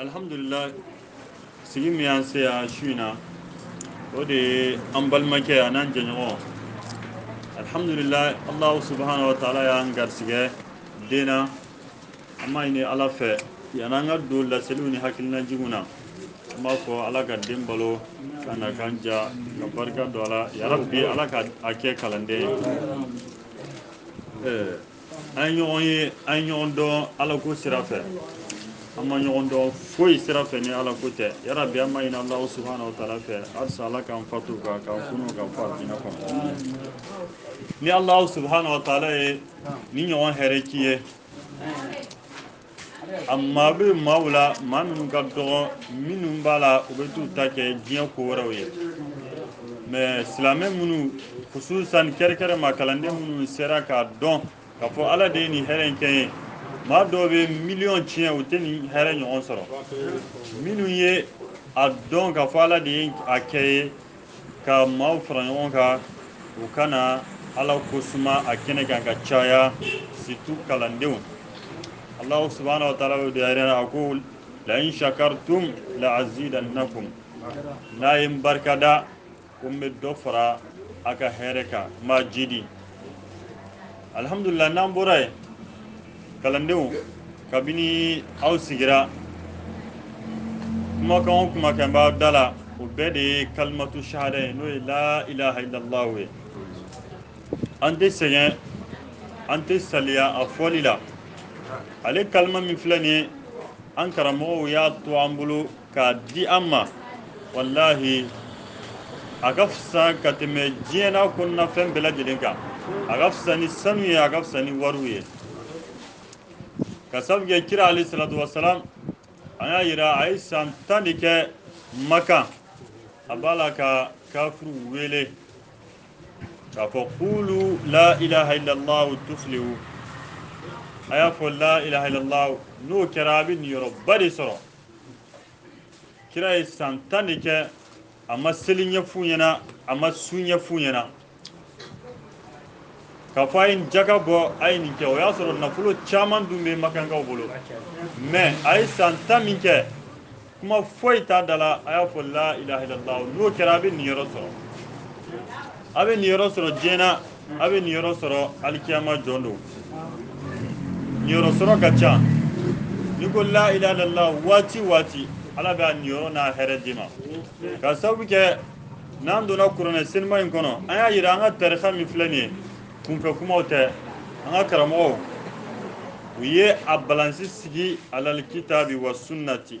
Alihamdulila sigi min y'an se yan su in na o de ye an balimakɛ an n'an jɛɲɔgɔn alihamdulila ala subahana wa taala y'an garisɛgɛ den an b'a ɲini ala fɛ yann'an ka don laseliw ni hakilinajigin na an b'a fɔ ala ka den balo k'a nakan diya ka barika don a la yarabi ala ka a kɛ kalanden ye an ɲɔgɔn ye an ye ɲɔgɔn dɔn ala ko sira fɛ an ma ɲɔgɔn dɔn foyi sira fɛ ni ala ko tɛ yarabi an b'a ɲini ala subahana wa taala fɛ halisa ala k'an fatu a kan k'an kunu ka fa diinɛ kɔnɔ ni ala subahana wa taala ye nin ɲɔgɔn hɛrɛ k'i ye a maa bɛ maaw la maa minnu ka dɔgɔn minnu b'a la u bɛ t'u ta kɛ diɲɛ ko wɛrɛw ye mais silamɛ minnu kususan kɛrɛkɛrɛ ma kalanden minnu sera k'a dɔn k'a fɔ ala de ye nin hɛrɛ in kɛ ye maa dɔw bɛ miliyɔn tiɲɛ u tɛ nin hɛrɛ ɲɔgɔn sɔrɔ minnu ye a dɔn k'a fɔ ala de ye a kɛ ye ka maaw fara ɲɔgɔn kan u ka na ala ko suma a kɛnɛ kan ka caya surtout kalandenw alahu subahana wa taala de y'a yira a ko la in shakartum la azidannakum n'a ye n barika da ko n bɛ dɔ fara a ka hɛrɛ kan n b'a jidi alihamdulila n'an bɔra yen kalandenw kabini aw sigira kumakan o kumakan b'aw da la o bɛɛ de ye kalimatu shahada ye n'o ye la ilaha illallah ye an tɛ sɛgɛn an tɛ saliya a fɔli la ale kalima min filɛ nin ye an karamɔgɔw y'a to an bolo k'a di an ma walahi a ka fisa ka tɛmɛ diɲɛ n'a kɔnɔna fɛn bɛɛ lajɛlen kan a ka fisa ni sanu ye a ka fisa ni wariw ye ka sabu kɛ kira alayhi salatu wasalam an y'a yira a ye san tan de kɛ makan a b'a la ka kafiriw wele k'a fɔ qulu la ilaha illallahu tuflihu a y'a fɔ la ilaha illallahu n'o kɛra a bɛ niyɔrɔba de sɔrɔ kira ye san tan de kɛ a ma seli ɲɛf'u ɲɛna a ma sun ɲɛf'u ɲɛna k'a fɔ a ye nin jaka bɔ a ye nin kɛ o y'a sɔrɔ nafolo caman dun bɛ makankaw bolo mais a ye san tan min kɛ kuma foyi t'a da la a y'a fɔ la ilaha illallah n'o kɛra a bɛ niyɔrɔ sɔrɔ a bɛ niyɔrɔ sɔrɔ diɲɛ na a bɛ niyɔrɔ sɔrɔ alikiyama jɔn don niyɔrɔ sɔrɔ ka ca n'i ko la ilaha illallah waati waati ala bɛ a niyɔrɔ n'a hɛrɛ d'i ma ka sababu kɛ n'an donna kuranɛ senima in kɔnɔ an y'a yira an ka tarika min filɛ nin ye kunfɛ kumaw tɛ an ka karamɔgɔw u ye a balansi sigi alalkitaabi wa sunnati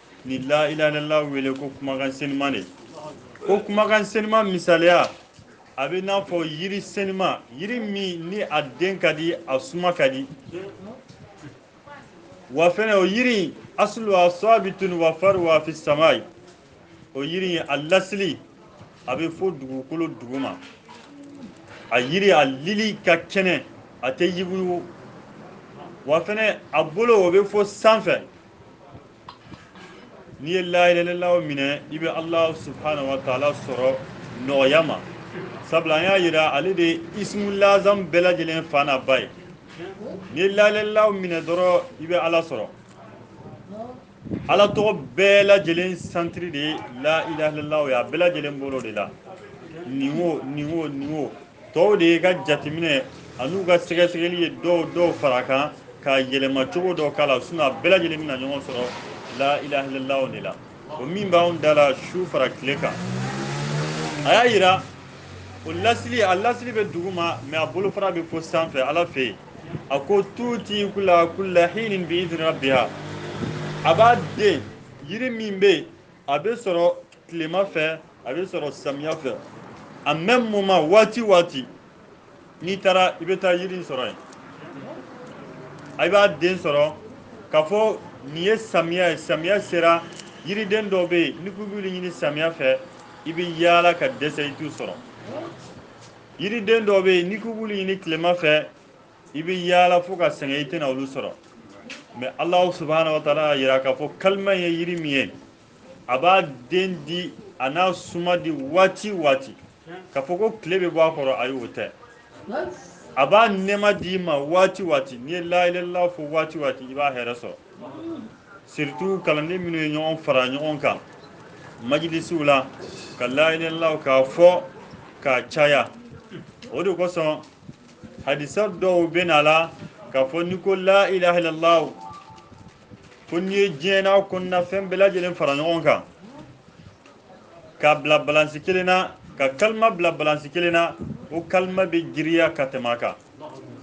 ni la ilaha illallah wele ko kumakan senima de ko kumakan senima misaliya a bɛ n'a fɔ yiri senima yiri min ni a den ka di a suma ka di wa fɛnɛ o yiri in asuluha sabitun wa faruha fi samai o yiri in a lasili a bɛ fo dugukolo duguma a yiri a lili ka kɛnɛ a tɛ yuguyugu wa fɛnɛ a bolo o bɛ fo sanfɛ n'i ye la ilaha illallah minɛ i bɛ ala subhanahu wa taala sɔrɔ nɔgɔya ma sabula an y'a yira ale de ye ismu lazam bɛɛ lajɛlen fa n'a ba ye n'i ye la ilaha illallah minɛ dɔrɔn i bɛ ala sɔrɔ ala tɔgɔ bɛɛ lajɛlen santiri de ye la ilaha illallah ye a bɛɛ lajɛlen bolo de la nin o nin o nin o tɔw de ye ka jateminɛ an'u ka sɛgɛsɛgɛli ye dɔw dɔw fara kan ka yɛlɛma cogo dɔ k'a la sinɔn a bɛɛ lajɛlen bɛna ɲɔgɔn sɔrɔ la ilaha illallah de la o min b'anw da la su fara tile kan a y'a yira o lasili a lasili bɛ duguma mɛ a bolofara bɛ fo sanfɛ ala fɛ yen a ko tuuti kula kula hinin bi idini rabiha a b'a den yiri min bɛ yen a bɛ sɔrɔ tilema fɛ a bɛ sɔrɔ samiya fɛ a mɛmu moman waati waati n'i taara i bɛ taa yiri in sɔrɔ yen i b'a den sɔrɔ k'a fɔ nin ye samiya ye samiya sera yiriden dɔw bɛ yen n'i k'i b'olu ɲini samiya fɛ i bɛ yaala ka dɛsɛ i t'u sɔrɔ yiriden dɔw bɛ yen n'i k'i b'olu ɲini tilema fɛ i bɛ yaala fo ka sɛgɛn i tɛna olu sɔrɔ mɛ alahu subhanahu wa taala y'a yira k'a fɔ kalima ye yiri min ye a b'a den di an'a suma di waati waati k'a fɔ ko tile bɛ bɔ a kɔrɔ ayi o tɛ a b'a nɛɛma d'i ma waati waati n'i ye la ilaha illallah fɔ waati waati i b'a hɛrɛ sɔrɔ surutu kalanden minnu ye ɲɔgɔn fara ɲɔgɔn kan majilisiw la ka la ilaha illallah k'a fɔ k'a caya o de kosɔn hadisa dɔw bɛ na la k'a fɔ n'i ko la ilaha illallah ko n'i ye diɲɛ n'a kɔnɔna fɛn bɛɛ lajɛlen fara ɲɔgɔn kan k'a bila balansi kelen na ka kalima bila balansi kelen na o kalima bɛ giriya ka tɛmɛ a kan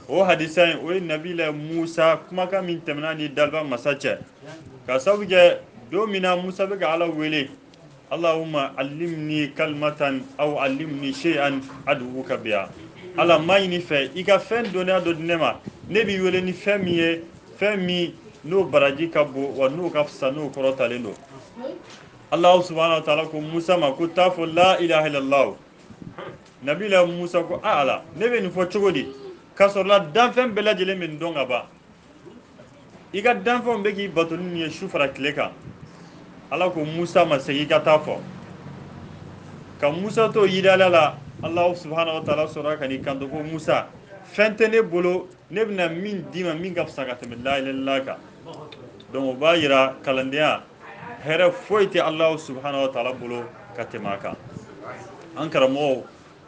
o hadisa in o ye nabilayi musa kumakan min tɛmɛna ni daliba masa cɛ ka sabu kɛ don min na musa bɛ ka ala wele Allahumma allimni kalimatan aw allimni shay'an ad'uka biha ala n b'a ɲini i fɛ i ka fɛn dɔnniya dɔ di ne ma ne b'i wele ni fɛn min ye fɛn min n'o baraji ka bon wa n'o ka fisa n'o kɔrɔtalen don alahu subahana wataala ko musa ma ko taa fɔ la ilaha illallah nabila musa ko a ala ne bɛ nin fɔ cogo di k'a sɔrɔla danfɛn bɛɛ lajɛlen bɛ nin dɔn ka ban i ka danfɛnw bɛ k'i bato ni ye su fara tile kan ala ko musa ma segin i ka taa fɔ ka musa to yidala la ala subahana wa taala sɔrɔ ka n'i kanto ko musa fɛn tɛ ne bolo ne bɛna min d'i ma min ka fisa ka tɛmɛ la ilaha illallah kan donc o b'a yira kalandenya hɛrɛ foyi tɛ ala subahana wa taala bolo ka tɛmɛ a kan an karamɔgɔw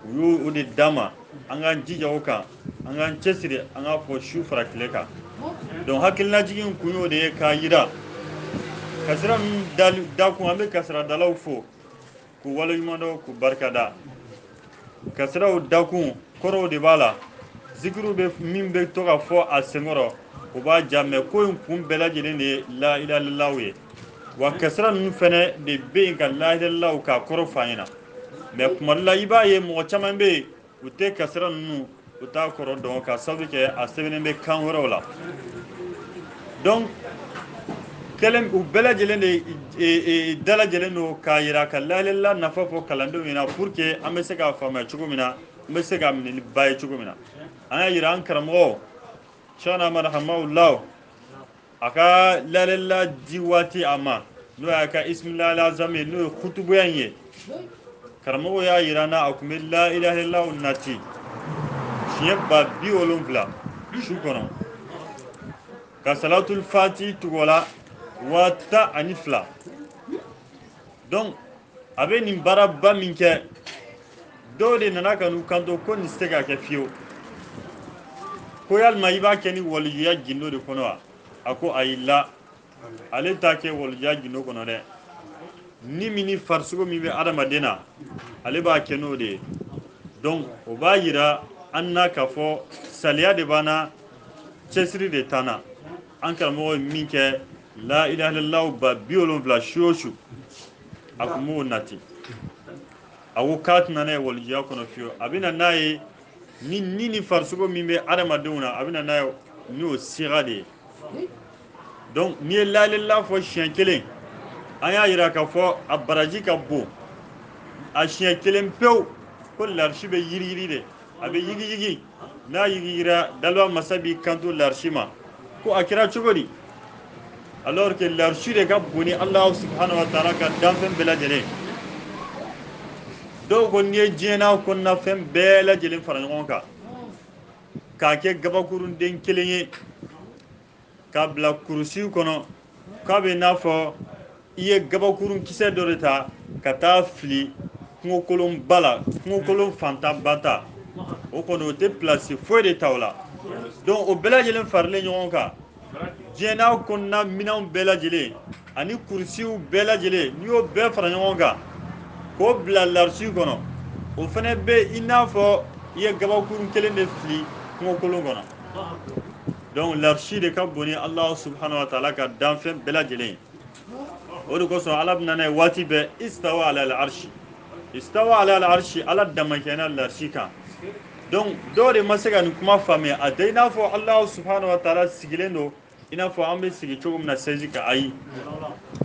u y'o de d'an ma an k'an jija o kan an k'an cɛsiri an k'a fɔ su fara tile kan donc hakilinajigin kun y'o de ye k'a yira kasira min dakun an bɛ kasiradalaw fo k'u waleɲumandɔn k'u barikada kasiraw dakun kɔrɔw de b'a la zikiriw bɛ min bɛ to ka fɔ a senkɔrɔ o b'a diya mais ko in kun bɛɛ lajɛlen de ye la ilaha illallah ye wa kasira ninnu fɛnɛ de bɛ yen ka la ilaha illallah k'a kɔrɔ fɔ an ɲɛna mais kuma dɔ la i b'a ye mɔgɔ caman bɛ yen u tɛ kasira ninnu u t'a kɔrɔ dɔn ka sabu kɛ a sɛbɛnnen bɛ kan wɛrɛw la donc kɛlen u bɛɛ lajɛlen de e, e, e, dalajɛlen don k'a yira ka la ilaha illallah nafa fɔ kalandenw ɲɛna pour que an bɛ se k'a faamuya cogo min na an bɛ se k'a minɛ ni ba ye cogo min na an y'a yira an karamɔgɔ sɛkina amada hamawula a ka la ilaha illallah di waati a ma n'o y'a ka ismillahil a'zam ye n'o ye kutubuya in ye karamɔgɔ y'a yira an na a tun bɛ la ilaha illallah nati siɲɛ ba bi wolonfila su kɔnɔ ka salatul fatihi tugu o la waa tan ani fila donc a bɛ nin baaraba min kɛ dɔw de nana ka n'u kanto ko nin tɛ se ka kɛ fiyewu ko yalima i b'a kɛ ni walijuya gindo de kɔnɔ wa a ko ayi la ale t'a kɛ walijuya gindo kɔnɔ dɛ ni min ni farisogo min bɛ adamaden na ale b'a kɛ n'o de ye donc o b'a yira an na k'a fɔ saliya de b'an na cɛsiri de t'an na an karamɔgɔ ye min kɛ la ilaha illallah ba bi wolonfila su o su a tun b'o nati a ko k'a tɛna n'a ye walijuya kɔnɔ fiyewu a bɛna n'a ye ni ni ni farisogo min bɛ adamadenw na a bɛna n'a ye n'o siga de ye donc n'i ye la ilaha illallah fɔ siɲɛ kelen an y'a yira k'a fɔ a baraji ka bon a siɲɛ kelen pewu ko larisi bɛ yiriyiri de a bɛ yigiyigi n'a yigiyigira daliba masa b'i kanto larisi ma ko a kɛra cogo di alors que larisi de ka bon ni alahu subhanahu wa taala ka danfɛn bɛɛ lajɛlen dɔw ko n'i ye diɲɛ n'a kɔnɔna fɛn bɛɛ lajɛlen fara ɲɔgɔn kan k'a kɛ gabakurunden kelen ye k'a bila kurusiw kɔnɔ k'a bɛ n'a fɔ i ye gabakurun kisɛ dɔ de ta ka taa fili kungokolon ba la kungokolon fantan ba ta o kɔni o tɛ pilasi foyi de ta o la donc o bɛɛ lajɛlen farilen ɲɔgɔn kan diɲɛ n'a kɔnɔna minɛnw bɛɛ lajɛlen ani kurusiw bɛɛ lajɛlen n'i y'o bɛɛ fara ɲɔgɔn kan k'o bila larisi kɔnɔ o fana bɛ i n'a fɔ i ye gabakurun kelen de fili kungokolon kɔnɔ donc larisi de ka bon ni alahu subahana wa taala ka danfɛn bɛɛ lajɛlen ye o de kosɔn ala bɛna n'a ye waati bɛɛ istawa ala larisi istawa ala larisi ala damakɛɲɛna larisi kan donc dɔw de ma se ka nin kuma faamuya a tɛ i n'a fɔ alahu subahana wa taala sigilen don i n'a fɔ an bɛ sigi cogo min na sɛzi kan ayi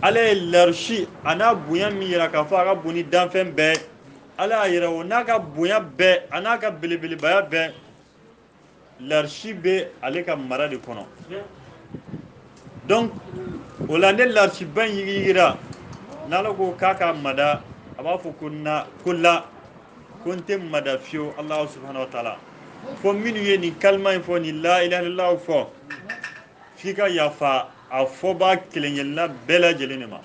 ala ye larisi a n'a bonya min yira k'a fɔ a ka bon ni danfɛn bɛɛ ala y'a yira o n'a ka bonya bɛɛ a n'a ka belebelebaya bɛɛ larisi bɛ ale ka mara de kɔnɔ donc o la ne larisiba in yigiyigira n'ala ko k'a ka mada a b'a fɔ ko la ko n tɛ mada fiyewu alahu subahana wa taala fo minnu ye nin kalima in fɔ nin la ilaha illallahu fɔ f'i ka yafa a fɔbaa kelenkelenna bɛɛ lajɛlen de ma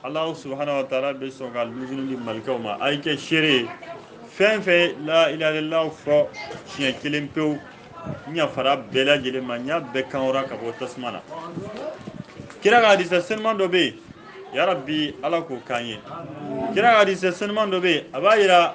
Alahu subhanahu wa taala bɛ sɔn ka lusini di malikaw ma a ye kɛ seere ye fɛn o fɛn la ilaha illallahu fɔ siɲɛ kelen pewu n yafara bɛɛ lajɛlen ma n y'a bɛɛ kan hɔrɔnya ka bɔ tasuma na kira ka hadisa senuman dɔ bɛ yen yarabi ala k'o k'an ye kira ka hadisa senuman dɔ bɛ yen a b'a yira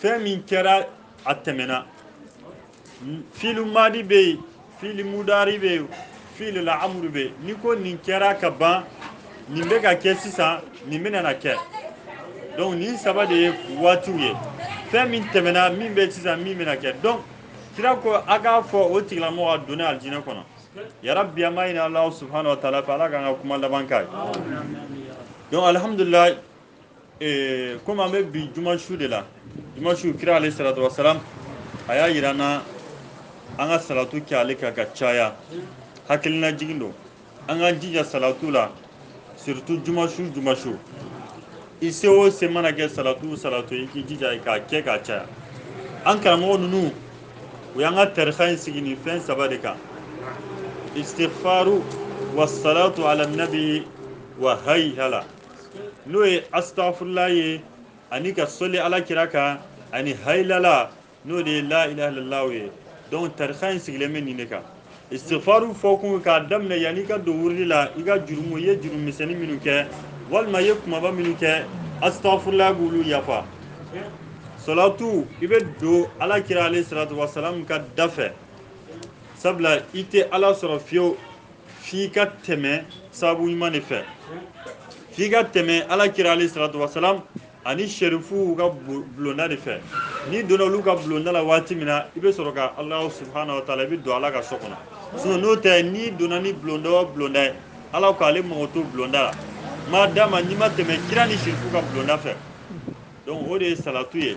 fɛn min kɛra a tɛmɛna filu madi bɛ yen filu mudari bɛ yen filu la'amuru bɛ yen n'i ko nin kɛra ka ban nin bɛ ka kɛ sisan nin bɛna na kɛ donc nin saba de ye waatiw ye fɛn min tɛmɛna min bɛ sisan min bɛna kɛ donc kira ko a k'a fɔ o tigilamɔgɔ a donna alijinɛ kɔnɔ yarabi an b'a ɲini alahu subahana wa taala fɛ ala k'an ka kuma laban k'a ye donc alihamudulila ee komi an bɛ bi juma su de la juma su kira alayhi salatu wasalam a y'a yira an na an ka salatu kɛ ale kan ka caya hakilinajigin don an k'an jija salatu la surtout juma su juma su i se o se mana kɛ salatu salatu i k'i jija k'a kɛ k'a caya an karamɔgɔ ninnu u y'an ka tarika in sigi nin fɛn saba de kan istighfaru wasalatu ala nabi wa haylala n'o ye astafurula ye ani ka soli ala kira kan ani hayilala n'o de ye la ilaha illallah ye donc tarika in sigilen bɛ nin de kan istighfaru fɔ kun k'a daminɛ yanni i ka don wurudi la i ka jurumu i ye jurumu misɛnnin minnu kɛ walima i ye kumaba minnu kɛ astafurula b'olu yafa salatu i bɛ don ala kira alayhi salatu wasalam ka da fɛ sabula i tɛ ala sɔrɔ fiyewu f'i ka tɛmɛ sababu ɲuman de fɛ f'i ka tɛmɛ ala kira alayhi salatu wasalam ani sherifuw ka bulonda de fɛ n'i donna olu ka bulonda la waati min na i bɛ sɔrɔ ka alahu subhanahu wa taala i bɛ don ala ka so kɔnɔ sinon n'o tɛ n'i donna ni bulonda o bulonda ye ala k'ale mago t'o bulonda la ma dama n'i ma tɛmɛ kira ni sherifuw ka bulonda fɛ donc o de ye salatu ye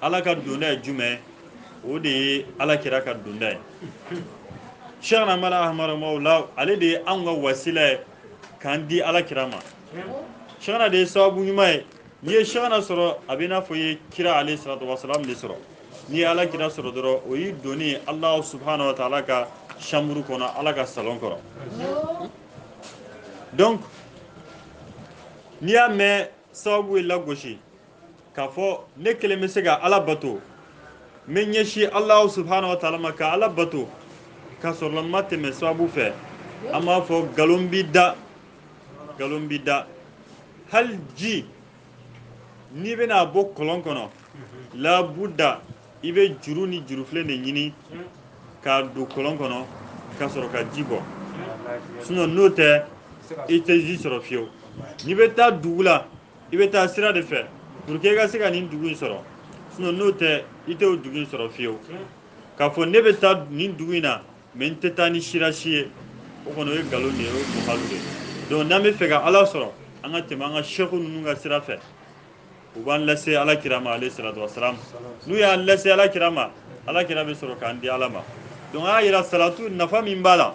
ala ka donda ye jumɛn o de ye ala kira ka donda ye sheikhna mawla ahmada hamahullah ale de ye anw ka wasila ye k'an di ala kira ma sheikhna de ye sababu ɲuman ye n'i ye sheikhna sɔrɔ a bɛ i n'a fɔ i ye kira alayhi salatu wasalam de sɔrɔ n'i ye ala kira sɔrɔ dɔrɔn o y'i donni alahu subhanahu wa taala ka chambre kɔnɔ ala ka salon kɔrɔ donc n'i y'a mɛn sababu ye lagosi k'a fɔ ne kelen bɛ se ka ala bato n bɛ ɲɛsin alahu subhanahu wa taala ma ka ala bato ka sɔrɔ n ma tɛmɛ sababu fɛ an b'a fɔ nkalon b'i da nkalon b'i da hali ji n'i bɛna a bɔ kɔlɔn kɔnɔ labuda i bɛ juru ni jurufilen de ɲini k'a don kɔlɔn kɔnɔ ka sɔrɔ ka ji bɔ sinon n'o tɛ i tɛ ji sɔrɔ fiyewu n'i bɛ taa dugu la i bɛ taa sira de fɛ pour que i ka se ka nin dugu in sɔrɔ sinon n'o tɛ i tɛ o dugu in sɔrɔ fiyewu k'a fɔ ne bɛ taa nin dugu in na mais n tɛ taa ni sira si ye o kɔni o ye nkalon de ye o ye muhalu de ye donc n'an b'a fɛ ka ala sɔrɔ an ka tɛmɛ an ka sɛku ninnu ka sira fɛ u b'an lase ala kira ma alayhi salatu wasalam n'u y'an lase ala kira ma ala kira bɛ sɔrɔ k'an di ala ma donc a y'a yira salatu nafa min b'a la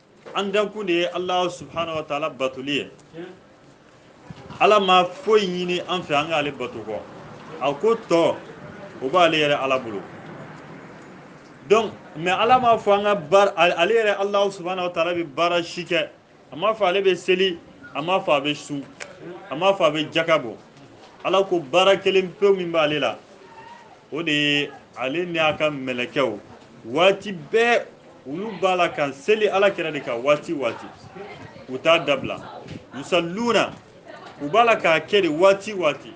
an dankun de ye alahu subhanahu wa taala batoli ye ala ma foyi ɲini an fɛ an k'ale bato kɔ a ko tɔ o b'ale yɛrɛ ala bolo donc mais ala m'a fɔ an ka baara ale yɛrɛ alahu subhanahu wa taala bɛ baara si kɛ a m'a fɔ ale bɛ seli a m'a fɔ a bɛ sun a m'a fɔ a bɛ jaka bɔ ala ko baara kelen pewu min b'ale la o de ye ale ni a ka mɛlɛkɛw waati bɛɛ olu b'a la ka seli ala kira de kan waati waati u t'a dabila yusalluna u b'a la k'a kɛ de waati waati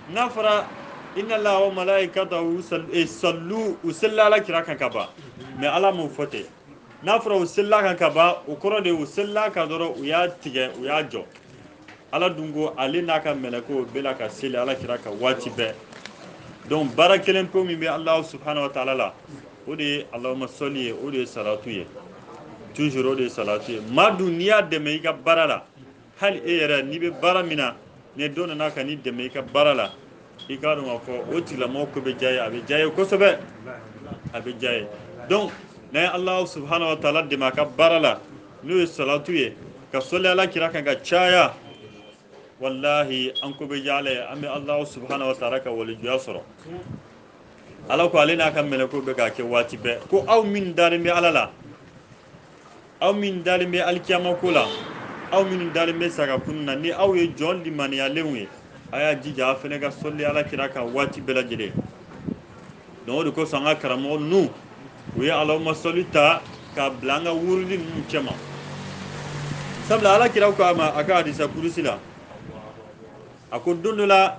n'a fɔra inna allaha wa malaikatahu sallu u selila ala kira kan ka ban mais ala m'o fɔ ten n'a fɔra u selila kan ka ban o kɔrɔ de u selila kan dɔrɔn u y'a tigɛ u y'a jɔ ala dun ko ale n'a ka mɛlɛkɛw bɛ la ka seli ala kira kan waati bɛɛ donc baara kelen pewu min bɛ alahu subhanahu wa taala la o de ye alahuma sɔli ye o de ye salatu ye toujours o de ye salatu ye maa dun n'i y'a dɛmɛ i ka baara la hali e yɛrɛ n'i bɛ baara min na ni dɔ nana ka n'i dɛmɛ i ka baara la i k'a dɔn k'a fɔ o tigilamɔgɔ ko bɛ diya ye a bɛ diya ye kosɛbɛ a bɛ diya ye donc n'an ye Alahu subahana wa taala dɛmɛ a ka baara la n'o ye salatu ye ka sɔli Ala kira kan ka caya walahi an ko bɛ diya Ala ye an bɛ Alahu subahana wa taala ka walijuya sɔrɔ Ala ko ale n'a ka mɛlɛkɛw bɛ k'a kɛ waati bɛɛ ko aw min dalen bɛ Ala la aw min dalen bɛ alikiyama ko la aw minnu dalen bɛ sa ka kunun na ni aw ye jɔn limaniyalenw ye a y'a jija a fana ka sɔli ala kira kan waati bɛɛ lajɛlen donc o de kosɔn an ka karamɔgɔ ninnu u ye alahuma sɔli ta k'a bila an ka wurudi ninnu cɛma sabula ala kira ko a ma a ka hadisa kurusi la a ko don dɔ la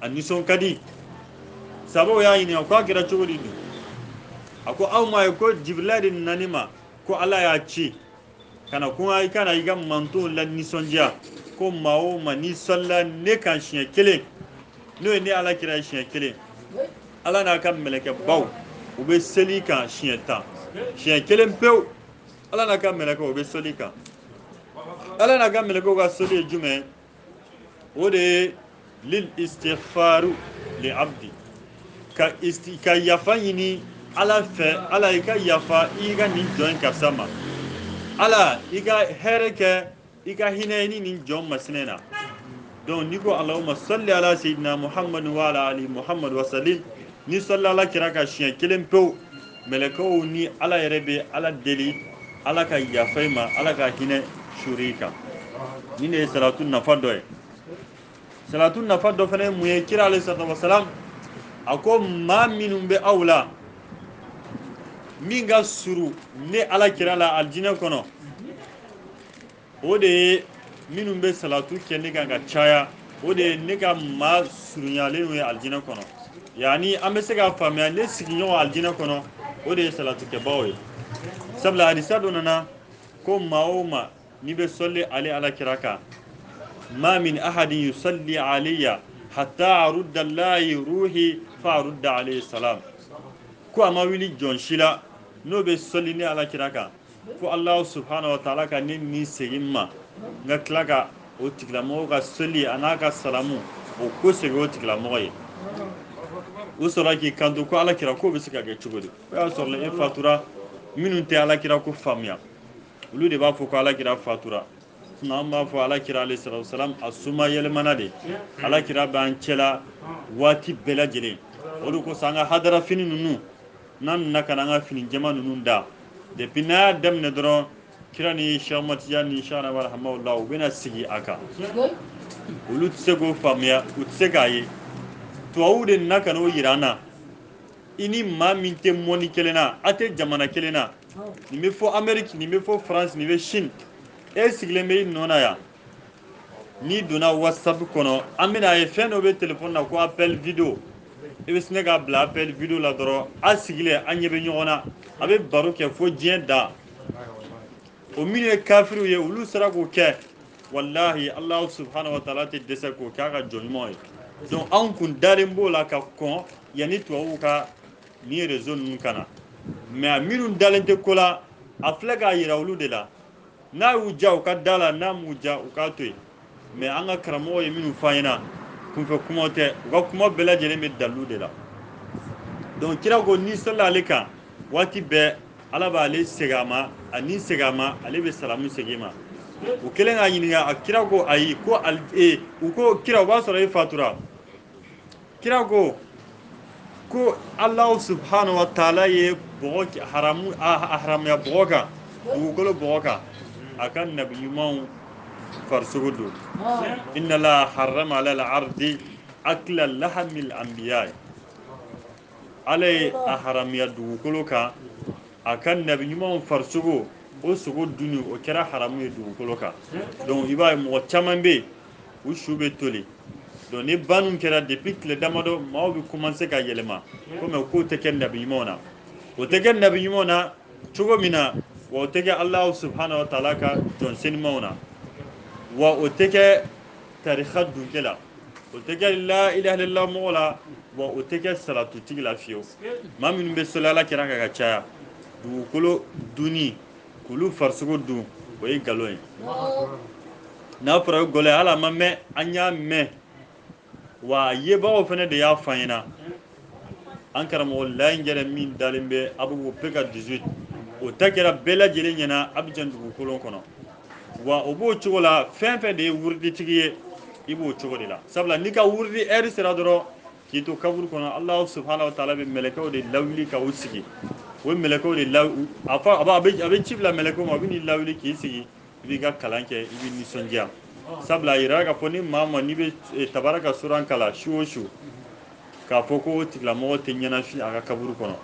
a nisɔn ka di sabaw y'a ɲininka ko a kɛra cogo di nin a ko aw m'a ye ko jibirila de nana ne ma ko ala y'a ci ka na ko i ka na i ka mantonw lanisɔndiya ko maa o maa n'i sɔlila ne kan siɲɛ kelen n'o ye ne ala kira ye siɲɛ kelen ala n'a ka mɛlɛkɛbaw u bɛ seli i kan siɲɛ tan siɲɛ kelen pewu ala n'a ka mɛlɛkɛw u bɛ seli i kan ala n'a ka mɛlɛkɛw ka seli ye jumɛn ye o de ye lil istighfaru li abdi ka isti ka yafa ɲini ala fɛ ala i ka yafa i ka nin jɔn karisa ma ala i ka hɛrɛ kɛ i ka hinɛ ni nin jɔn masinɛ na donc n'i ko allahumma salli ala sayyidina muhammad wa ala ali muhammad wa sallim n'i sɔlila ala kira kan siɲɛ kelen pewu mɛlɛkɛw ni ala yɛrɛ bɛ ala deli ala ka yafa i ma ala ka hinɛ suuru i kan nin de ye salatu nafa dɔ ye salatu nafa dɔ fana ye mun ye kira alayhi salatu wasalam a ko maa minnu bɛ aw la min ka surun ne ala kira la alijinɛ kɔnɔ o de ye minnu bɛ salatu kɛ ne kan ka caya o de ye ne ka maa surunyalen ye alijinɛ kɔnɔ yani an bɛ se k'a faamuya ne sigiɲɔgɔn alijinɛ kɔnɔ o de ye salatukɛbaaw ye sabula hadisa dɔ nana ko maa o maa n'i bɛ sɔli ale ala kira kan ma min ahadin yusalli alayya hatta arudda lahi ruhi fa arudda alayhi salam ko a ma wuli jɔn si la n'o bɛ sɔli ne ala kira kan fo alahu subhanahu wa taala ka ne ni segin n ma n ka tila ka o tigilamɔgɔ ka seli an'a ka salamu o kɔsegin o tigilamɔgɔ ye u sɔrɔla k'i kanto ko alakira k'o bɛ se ka kɛ cogo di o y'a sɔrɔla e fatura minnu tɛ alakira ko faamuya olu de b'a fɔ ko alakira fatura sinɔn an b'a fɔ alakira alayhi salatu wasalam a suma yɛlɛmana de alakira b'an cɛla waati bɛɛ lajɛlen o de kosɔn an ka hadara fini ninnu n'an nana ka na an ka fini jɛma ninnu da depuis n'a y'a daminɛ dɔrɔn kira ni Cheikh Ahmad Tijan ni Cheikh Ahmada Hamawula u bɛna sigi a kan olu tɛ se k'o faamuya u tɛ se k'a ye tubabuw de nana ka n'o yira an na i ni maa min tɛ mɔni kelen na a tɛ jamana kelen na nin bɛ fo Amérique nin bɛ fo France nin bɛ Chine e sigilen bɛ i nɔ na yan n'i donna whatsapp kɔnɔ an bɛna a ye fɛn dɔ bɛ telefɔni na ko appel vidéo i bɛ sin k'a bila appel vidéo la dɔrɔn a sigilen an ɲɛ bɛ ɲɔgɔn na a bɛ baro kɛ fo diɲɛ dan o minnu ye kafiriw ye olu sera k'o kɛ walahi alahu subhanahu wa taala tɛ dɛsɛ k'o k'a ka jɔn ɲumanw ye donc anw kun dalen b'o la ka kɔn yanni tubabuw ka nin réseau ninnu ka na mais minnu dalen tɛ ko la a filɛ k'a yira olu de la n'a y'u diya u ka da la n'a m'u diya u k'a to yen mais an ka karamɔgɔ ye minnu fɔ an ɲɛna kunfɛ kumaw tɛ u ka kuma bɛɛ lajɛlen bɛ dalilu de la donc kira ko n'i selila ale kan waati bɛɛ ala b'ale segin a ma a ni segin a ma ale bɛ salamu segin ma u kɛlen k'a ɲininka a kira ko ayi ko e u ko kira o b'a sɔrɔ e fatura kira ko ko alahu subhanahu wa taala ye bɔgɔ haramu a haramuya bɔgɔ kan dugukolo bɔgɔ kan a ka nabi ɲumanw farisogo dun inna la harama ala la ardi akla lahamil anbiya ala ye a haramuya dugukolo kan a ka nabi ɲumanw farisogo o sogo dunni o kɛra haramu ye dugukolo kan donc i b'a ye mɔgɔ caman bɛ yen u su bɛ toli donc ni banni kɛra depuis tile damadɔ maaw bɛ commencer ka yɛlɛma komi o kow tɛ kɛ nabi ɲumanw na o tɛ kɛ nabi ɲumanw na cogo min na wa o tɛ kɛ alahu subhanahu wa taala ka jɔn senimaw na wa o tɛ kɛ tarikha dunke la o tɛ kɛ la ilaha illallah mɔgɔ la wa o tɛ kɛ salatutigi la fiyewu maa minnu bɛ seli ala kira kan ka caya dugukolo dunni k'olu farisogo dun o ye nkalon ye n'a fɔra o gɔlɛ hali a ma mɛn an y'a mɛn wa a yebagaw fana de y'a fɔ an ɲɛna an karamɔgɔ layi yɛrɛ min dalen bɛ Abobo PK dix-huit o ta kɛra bɛɛ lajɛlen ɲɛna Abidjan dugukolo kɔnɔ wa o b'o cogo la fɛn fɛn de ye wuriditigi ye i b'o cogo de la sabula n'i ka wuridi heure sera dɔrɔn k'i to kaburu kɔnɔ alahu subhanahu wa taala bɛ mɛlɛkɛw de lawuli ka u sigi o ye mɛlɛkɛw de law a fɔ a bɛ a bɛ ci bila mɛlɛkɛw ma u bɛ n'i lawuli k'i sigi i b'i ka kalan kɛ i bɛ nisɔndiya sabula a yira k'a fɔ ni maa ma n'i bɛ eh, tabaraka suran kalan su o su k'a fɔ ko o tigilamɔgɔ tɛ ɲɛnafin a ka kaburu kɔnɔ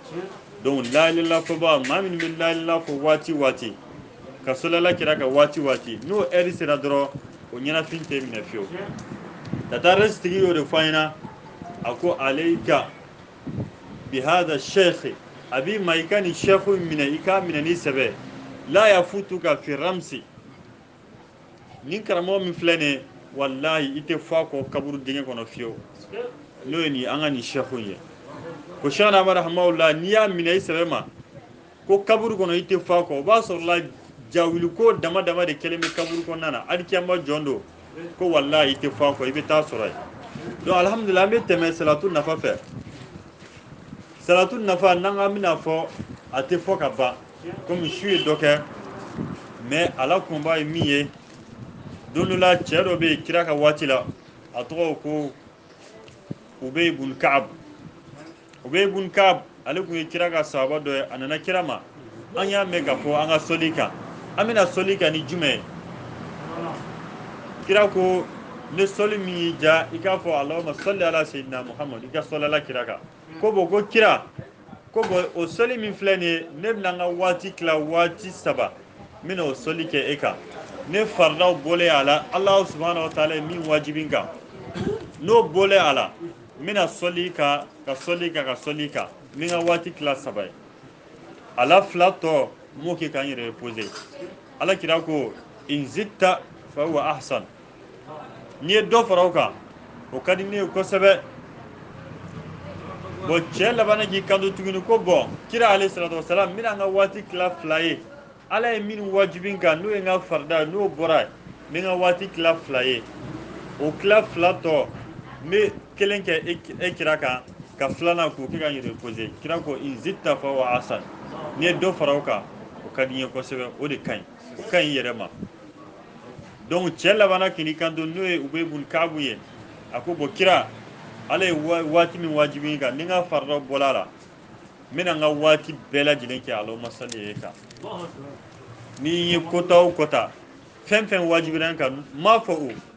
donc la ilaha ilala fɔba maa minnu bɛ la ilaha ilala fɔ waati waati ka sɔli ala kira kan waati waati n'o heure sera dɔrɔn o ɲɛnafin tɛ minɛ fiyewu tataresi tigi y'o de fɔ an ɲɛna a ko aleyika bihada shekhi a b'i ma i ka nin shekhu minɛ i k'a minɛ ni sɛbɛ la yafutuka fi ramsi nin karamɔgɔ min filɛ nin ye walayi i tɛ fɔ a kɔ kaburu dingɛ kɔnɔ fiyewu n'o ye nin an ka nin shekhu in ye ko shekhna amadu hamawula n'i y'a minɛ i sɛbɛ ma ko kaburu kɔnɔ i tɛ fɔ a kɔ o b'a sɔrɔla jawiliko dama dama de kɛlen bɛ kaburu kɔnɔna na hali kiyama jɔ don ko walahi i tɛ fɔ a kɔ i bɛ taa sɔrɔ yen donc alihamudulila an bɛ tɛmɛ salatu nafa fɛ salatu nafa n'an k'an bɛna fɔ a tɛ fɔ ka ban komi su ye dɔ kɛ mais a la kunba ye min ye don dɔ la cɛ dɔ bɛ yen kira ka waati la a tɔgɔ ko ubey bun kaab ubey bun kaab ale kun ye kira ka sahaba dɔ ye a nana kira ma an y'a mɛn ka fɔ an ka soli kan an bɛna soli kan ni jumɛn ye kira ko ne soli min y'i ja i k'a fɔ alahuma sali ala sayidina muhamadu i ka soli ala kira kan ko bon ko kira ko bon o sɔli min filɛ nin ye ne bɛna n ka waati tila waati saba n bɛna o sɔli kɛ e kan ne faridaw bɔlen a la alahu subahana wa taala ye min wajibi n kan n'o bɔlen a la n bɛna sɔli kan ka sɔli kan ka sɔli kan n bɛ n ka waati tila saba ye a la fila tɔ n b'o kɛ ka n yɛrɛ reposer ala kira ko in zita fa huwa ahsan n'i ye dɔ fara o kan o ka di ne ye kosɛbɛ bon cɛ labanna k'i kanto tuguni ko bon kira aleyi salatu wasalam n bɛna n ka waati tila fila ye ala ye min wajibi n kan n'o ye n ka farida n'o bɔra n bɛ n ka waati tila fila ye o tila fila tɔ n bɛ kelen kɛ e, e kira kan ka filanan k'o kɛ ka n yɛrɛ reposer kira ko in zitta fa huwa ahsan n'i ye dɔ fara o kan o ka di n ye kosɛbɛ o de ka ɲi o ka ɲi yɛrɛ ma donc cɛ labanna k'i kanto n'o ye ubey bun kaabu ye a ko bon kira ala ye waati min wajibi n kan ni n ka farida bɔla a la n bɛna n ka waati bɛɛ lajɛlen kɛ alahuma sali ye e kan ni n ye kota o kota fɛn fɛn wajibira n kan n m'a fɔ o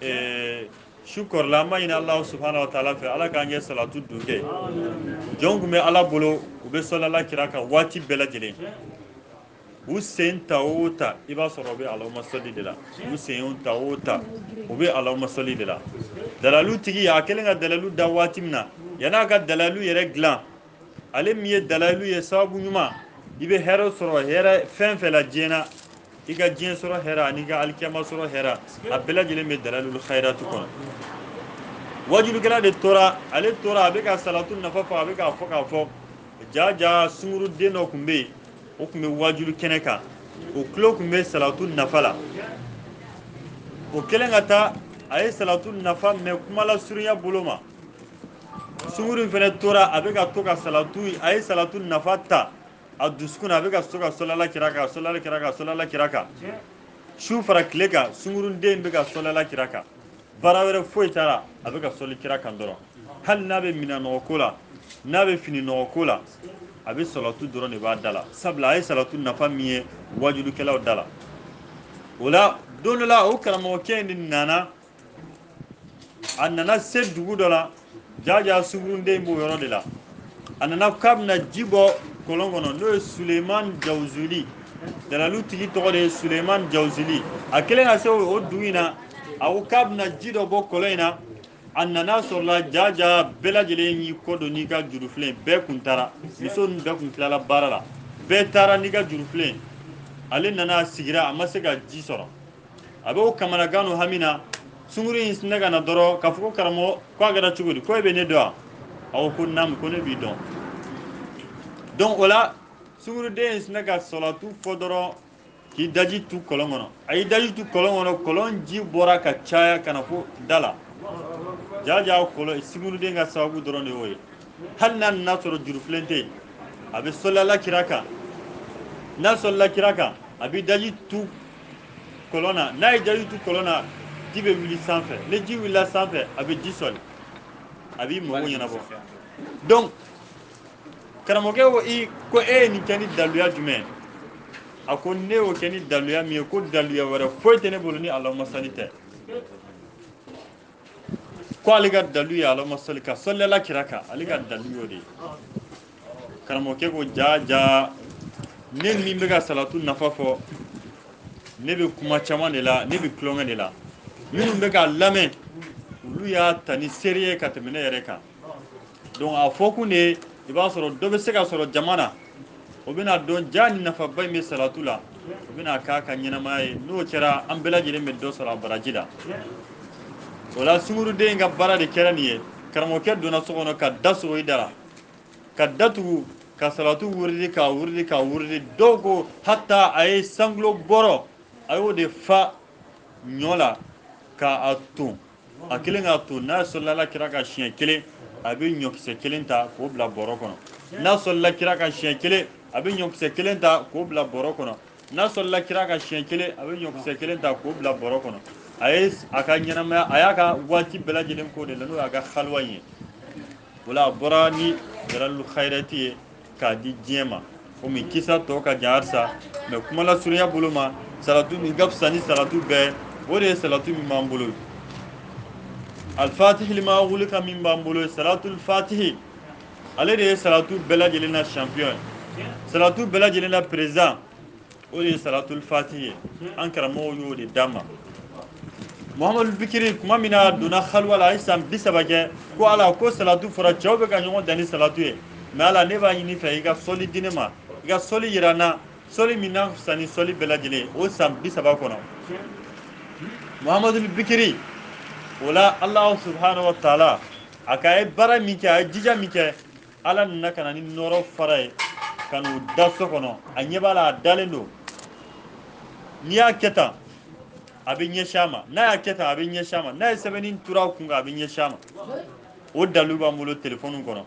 eh, su kɔrɔla an b'a ɲini alahu subhanahu wa taala fɛ ala k'an kɛ salatu dun kɛ jɔn tun bɛ ala bolo u bɛ sɔlila kira kan waati bɛɛ lajɛlen u sen ta o ta i b'a sɔrɔ u bɛ alahuma sɔli de la u sen ta o ta u bɛ alahuma sɔli de la dalalu tigi a kɛlen ka dalalu da waati min na yan'a ka dalalu yɛrɛ dilan ale min ye dalalu ye sababu ɲuman i bɛ hɛrɛ sɔrɔ hɛrɛ fɛn fɛn la diɲɛ na i ka diɲɛ sɔrɔ hɛrɛ an'i ka alikiyama sɔrɔ hɛrɛ a bɛɛ lajɛlen bɛ dalalul khairatu kɔnɔ wajulukɛla de tora ale tora a bɛ ka salatu nafa fɔ a bɛ k'a fɔ k'a fɔ jaa jaa sunguruden dɔ tun bɛ yen o tun bɛ wajulu kɛnɛ kan o tulo tun bɛ salatu nafa la o kɛlen ka taa a ye salatu nafa mɛn kuma lasurunya bolo ma sunguru in fana tora a bɛ ka to ka a ye salatu nafa ta a dusukun na a bɛ ka to ka sɔlila kira kan su fara tile kan sungurunden bɛ ka sɔlila kira kan baara wɛrɛ foyi t'a la a bɛ ka sɔli kira kan dɔrɔn hali n'a bɛ minɛn nɔgɔ ko la n'a bɛ fini nɔgɔ ko la a bɛ salatu dɔrɔn de b'a da la sabula a ye salatu nafa min ye wajulukɛlaw da la o la don dɔ la o karamɔgɔkɛ in de nana a nana se dugu dɔ la jaja sungurunden b'o yɔrɔ de la a nana k'a bɛna ji bɔ kɔlɔn kɔnɔ n'o ye suleman jawuzuli dalalu tigi tɔgɔ de ye suleman jawuzuli a kɛlen ka se o dugu in na a ko k'a bɛna ji dɔ bɔ kɔlɔn in na a nana sɔrɔla jaja bɛɛ lajɛlen y'i kɔ don n'i ka jurufilen bɛɛ kun taara muso ninnu bɛɛ kun tilala baara la bɛɛ taara n'i ka jurufilen ale nana sigira a ma se ka ji sɔrɔ a bɛ o kamanagan n'o hami na sunguru in sinɛ ka na dɔrɔn k'a fɔ ko karamɔgɔ ko a kɛra cogo di ko e bɛ ne dɔn wa a ko ko naamu ko ne b'i dɔn donc o la sunguruden in sinɛ ka salatu fɔ dɔrɔn k'i daji tu kɔlɔn kɔnɔ a y'i daji tu kɔlɔn kɔnɔ kɔlɔn ji bɔra ka caya ka na fo da la jaja kɔlɔn sunguruden ka sababu dɔrɔn de y'o ye hali n'a nana sɔrɔ jurufilen tɛ yen a bɛ sɔlila kira kan n'a sɔlila kira kan a b'i daji tu kɔlɔn na n'a y'i daji tu kɔlɔn na ji bɛ wuli sanfɛ ni ji wulila sanfɛ a bɛ ji soli a b'i mago ɲɛnabɔ donc karamɔgɔkɛ ko i ko e ye nin kɛ ni daluya jumɛn ye a ko ne y'o kɛ ni daluya min ye ko daluya wɛrɛ foyi tɛ ne bolo ni alahuma sali tɛ ko ale ka dalu ye alahuma sali ka sɔlila kira kan ale ka dalu y'o de ye karamɔgɔkɛ ko jaa jaa ne min bɛ ka salatu nafa fɔ ne bɛ kuma caman de la ne bɛ tulonkɛ de la minnu bɛ ka lamɛn olu y'a ta ni sérieux ye ka tɛmɛ ne yɛrɛ kan donc a fɔ kun de ye i b'a sɔrɔ dɔ bɛ se ka sɔrɔ jama na o bɛna dɔn jaa ni nafaba in bɛ salatu la o bɛna k'a ka ɲɛnamaya ye n'o kɛra an bɛɛ lajɛlen bɛ dɔ sɔrɔ a baraji la o la sunguruden ka baara de kɛra nin ye karamɔgɔkɛ donna so kɔnɔ ka da sɔgɔ i da la ka datugu ka salatu wuridi k'a wuridi k'a wuridi dɔw ko hata a ye cent kilo bɔrɔ a y'o de fa ɲɔ la k'a ton a kelen k'a ton n'a sɔlila kira kan siɲɛ kelen a bɛ ɲɔkisɛ kelen ta k'o bila bɔrɔ kɔnɔ n'a sɔlila kira kan siɲɛ kelen a bɛ ɲɔkisɛ kelen ta k'o bila bɔrɔ kɔnɔ n'a sɔlila kira kan siɲɛ kelen a bɛ ɲɔkisɛ kelen ta k'o bila bɔrɔ kɔnɔ a ye a ka ɲɛnamaya a y'a ka waati bɛɛ lajɛlen k'o de la n'o y'a ka haliwa in ye o la a bɔra ni dalailul khayrati ye k'a di diɲɛ ma komi kisa tɔ ka jan halisa mais kuma la surunya bolo ma salatu min ka fisa ni salatu bɛɛ o de ye salatu min b'an bolo alfatihi lima ughliqa min b'an bolo salatul fatihi ale de ye salatu bɛɛ lajɛlen na champion salatu bɛɛ lajɛlen na président o de ye salatul fatihi ye an karamɔgɔw y'o de d'an ma muhamadul bikiri kuma min na a donna haliwa la a ye san bi saba kɛ ko ala ko salatu fɔra cɛw bɛ ka ɲɔgɔn dan ni salatu ye mais ala ne b'a ɲini i fɛ i ka sɔli di ne ma i ka sɔli yira n na sɔli min na fisa ni sɔli bɛɛ lajɛlen o san bi saba kɔnɔ muhamadul bikiri o la alahu subhanahu wa taala a ka ye baara min kɛ a ye jija min kɛ ala nana ka na ni nɔrɔ fara ye ka n'o da so kɔnɔ a ɲɛ b'a la a dalen don n'i y'a kɛ tan a bɛ ɲɛsin a ma n'a y'a kɛ tan a bɛ ɲɛsin a ma n'a ye sɛbɛnni turu a kun kan a bɛ ɲɛsin a ma o dalilu b'an bolo telefɔni kɔnɔ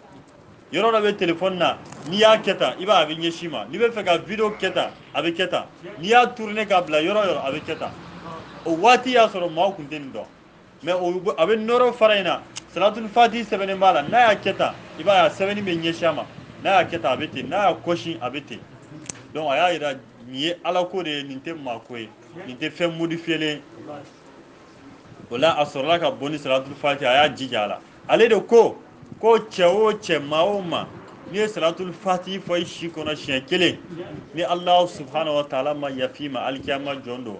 yɔrɔ dɔ bɛ telefɔni na n'i y'a kɛ tan i b'a a bɛ ɲɛsin i ma n'i bɛ fɛ ka video kɛ tan a bɛ kɛ tan n'i y'a tourner k'a bila yɔrɔ o yɔrɔ a bɛ kɛ tan o waati y'a sɔrɔ maaw tun tɛ nin dɔn mais a bɛ nɔrɔ fara in na salatul fatihi sɛbɛnnen b'a la n'a y'a kɛ tan i b'a ye a sɛbɛnni bɛ ɲɛsin a ma n'a y'a kɛ tan a bɛ ten n'a y'a kɔsi a bɛ ten donc a y'a yira nin ye ala ko de ye nin tɛ maa ko ye nin tɛ fɛn modifiyelen o la a sɔrɔla ka bɔ ni salatul fatihi a y'a jija a la ale de ko ko cɛ o cɛ maa o maa n'i ye salatul fatihi fɔ i si kɔnɔ siɲɛ kelen ni alahu subhanahu wa taala ma yafa i ma alikiyama jɔn don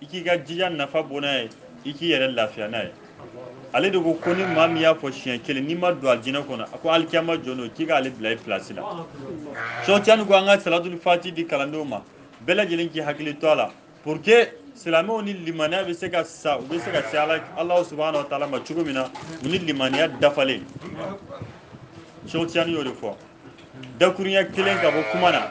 i k'i ka jija nafa bɔ n'a ye i k'i yɛrɛ lafiya n'a ye ale de ko ko ni maa min y'a fɔ siɲɛ kelen n'i ma don alijinɛ kɔnɔ a ko alikiyama jɔn don k'i k'ale bila i pilasi la sheikh tijani ko an ka salatul fati di kalandenw ma bɛɛ lajɛlen k'i hakili to a la pour que silamɛw ni limaniya bɛ se ka sa u bɛ se ka se alahu subahana wa taala ma cogo min na u ni limaniya dafalen sheikh tijani y'o de fɔ dakurunya kelen ka bɔ kuma na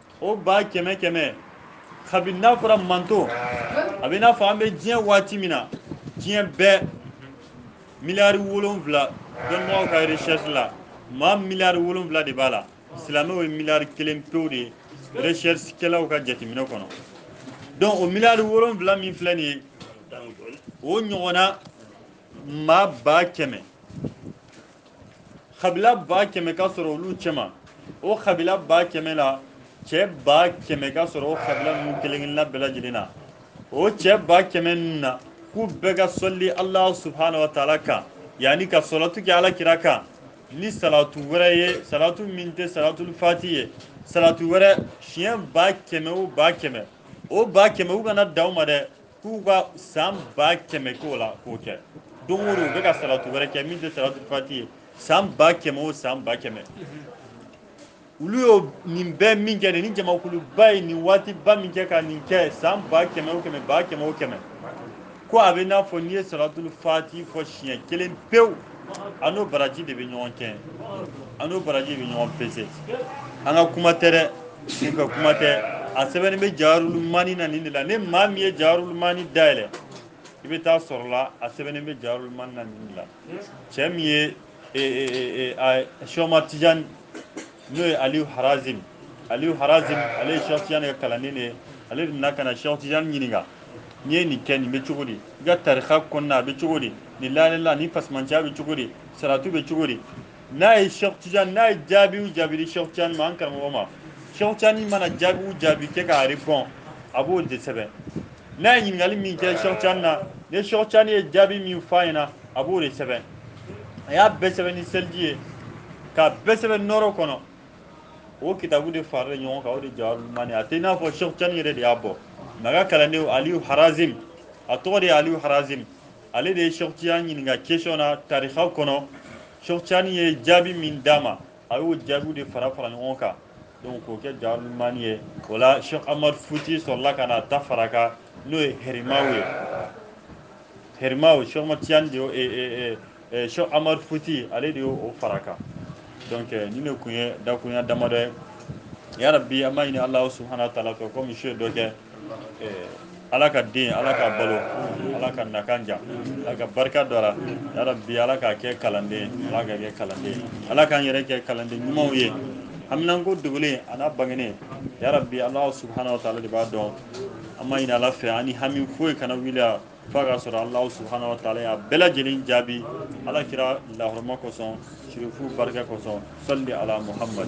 o ba kɛmɛ kɛmɛ kabini n'a fɔra manto a bɛ n'a fɔ an bɛ diɲɛ waati min na diɲɛ bɛɛ miliyari wolonwula dɔnnibagaw ka recherche la maa miliyari wolonwula de b'a la silamɛw ye miliyari kelen pewu de ye recherche kɛlaw ka jateminɛ kɔnɔ donc o miliyari wolonwula min filɛ nin ye o ɲɔgɔnna maa ba kɛmɛ kabila ba kɛmɛ ka sɔrɔ olu cɛma o kabila ba kɛmɛ la cɛ ba kɛmɛ ka sɔrɔ o kabila ninnu kelen kelenna bɛɛ lajɛlen na o cɛ ba kɛmɛ ninnu na k'u bɛɛ ka sɔli alahu subahana wa taala kan yani ka salatu kɛ ala kira kan ni salatu wɛrɛ ye salatu min tɛ salatul fati ye salatu wɛrɛ siɲɛ ba kɛmɛ o ba kɛmɛ o ba kɛmɛ u kana dan o ma dɛ k'u ka san ba kɛmɛ k'o la k'o kɛ don o don u bɛ ka salatu wɛrɛ kɛ min tɛ salatul fati ye san ba kɛmɛ o san ba kɛmɛ olu y'o nin bɛɛ min kɛ nin jamakuluba ye nin waatiba min kɛ ka nin kɛ san ba kɛmɛ o kɛmɛ ba kɛmɛ o kɛmɛ ko a bɛ n'a fɔ n'i ye salatul fati fɔ siɲɛ kelen pewu a n'o baraji de bɛ ɲɔgɔn kɛ a n'o baraji de bɛ ɲɔgɔn pese an ka kuma tɛ dɛ n ka kuma tɛ a sɛbɛnnen bɛ jawahirul mani na nin de la ni maa min ye jawahirul mani dayɛlɛ i bɛ t'a sɔrɔ la a sɛbɛnnen bɛ jawahirul mani na nin de la cɛ min ye sheikh amadu tijani n'o ye aliyu harazim aliyu harazim ale ye sheikh tijani ka kalanden de ye ale de nana ka na sheikh tijani ɲininka n'i ye nin kɛ nin bɛ cogo di i ka tarika kɔnɔna a bɛ cogo di nin la ilaha nin fasimanciya bɛ cogo di salatu bɛ cogo di n'a ye sheikh tijani n'a ye jaabi o jaabi di sheikh tijani ma an karamɔgɔ ma sheikh tijani mana jaabi o jaabi kɛ k'a répond a b'o de sɛbɛn n'a ye ɲininkali min kɛ sheikh tijani na ni sheikh tijani ye jaabi min f'a ɲɛna a b'o de sɛbɛn a y'a bɛɛ sɛbɛn ni seliji ye k'a bɛɛ sɛbɛn nɔrɔ kɔnɔ o kitabu de farala ɲɔgɔn kan o de jawahirul mani a tɛ i n'a fɔ sheikh tijani yɛrɛ de y'a bɔ mais a ka kalanden aliyu harazim a tɔgɔ de ye aliyu harazim ale de ye sheikh tijani ɲininka question na tarika kɔnɔ sheikh tijani ye jaabi min d'a ma a y'o jaabiw de fara fara ɲɔgɔn kan donc k'o kɛ jawahirul mani ye o la sheikh amadu futi sɔrɔla ka n'a ta fara kan n'o ye arimahu ye herimaw sheikh ahmad tijani de y'o sheikh umar futi ale de y'o fara kan donc ninnu kun ye dakurunya damadɔ ye ya rabbi an b'a ɲini alahu subhanahu wa taala fɛ komi su ye dɔ kɛ ala ka den ala k'a balo ala k'a nakan diya ala ka barika don a la ya rabbi ala k'a kɛ kalanden ala k'a kɛ kalanden ala k'an yɛrɛ kɛ kalanden ɲumanw ye haminanko dogolen a n'a bangenen ya rabbi alahu subhanahu wa taala de b'a dɔn an b'a ɲini ala fɛ an ni hami foyi kana wuli a fo k'a sɔrɔ alahu subhanahu wa taala y'a bɛɛ lajɛlen jaabi ala kira la hɔrɔma kosɔn sirifu barika kosɔn salli ala muhammad